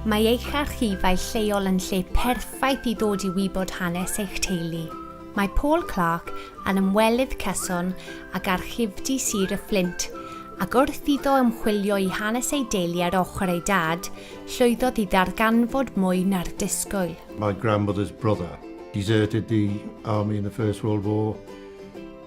Mae eich archifau lleol yn lle perffaith i ddod i wybod hanes eich teulu. Mae Paul Clark yn ymwelydd cyson ag Archifdy Sir y Fflint, ac wrth iddo ymchwilio i hanes ei deulu ar ochr ei dad, llwyddodd i ddarganfod mwy na'r disgwyl. My grandmother's brother deserted the army in the First World War.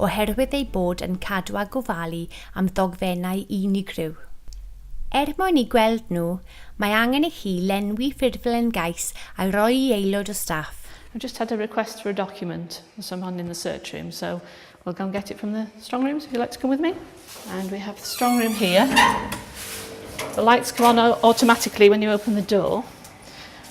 oherwydd eu bod yn cadw a gofalu am ddogfennau unigryw. Er mwyn eu gweld nhw, mae angen i chi lenwi ffurflen gais a'i roi i aelod o staff. I've just had a request for a document for someone in the search room, so we'll go and get it from the strong rooms if you'd like to come with me. And we have the strong room here. The lights come on automatically when you open the door.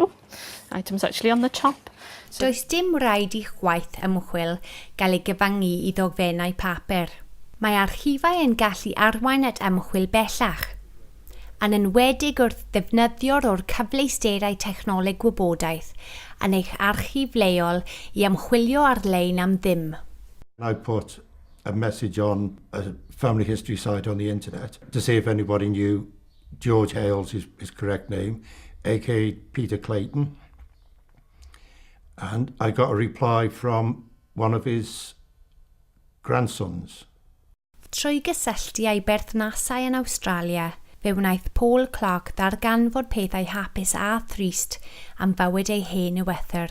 Ooh, items actually on the top. So... Does dim rhaid i'ch gwaith ymchwil gael ei gyfangu i ddogfennau papur. Mae archifau yn gallu arwain at ymchwil bellach, yn enwedig wrth ddefnyddio'r o'r cyfleusterau technoleg gwybodaeth yn eich archif leol i ymchwilio ar-lein am ddim. I put a message on a family history site on the internet to see if anybody knew George Hales is his correct name, aka Peter Clayton. And I got a reply from one of his grandsons. Trwy gysylltu â'i berthnasau yn Awstralia, fe wnaeth Paul Clarke ddarganfod pethau hapus a thrist am fywyd ei hen ewythr.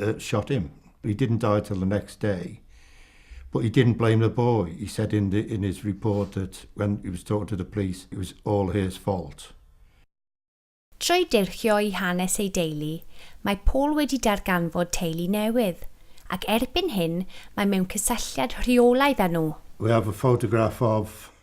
uh, shot him. He didn't die till the next day. But he didn't blame the boy. He said in, the, in his report that when he was talking to the police, it was all his fault. Trwy deillio i hanes ei deulu, mae Paul wedi darganfod teulu newydd, ac erbyn hyn mae mewn cysylltiad rheolaidd â nhw. We have a photograph of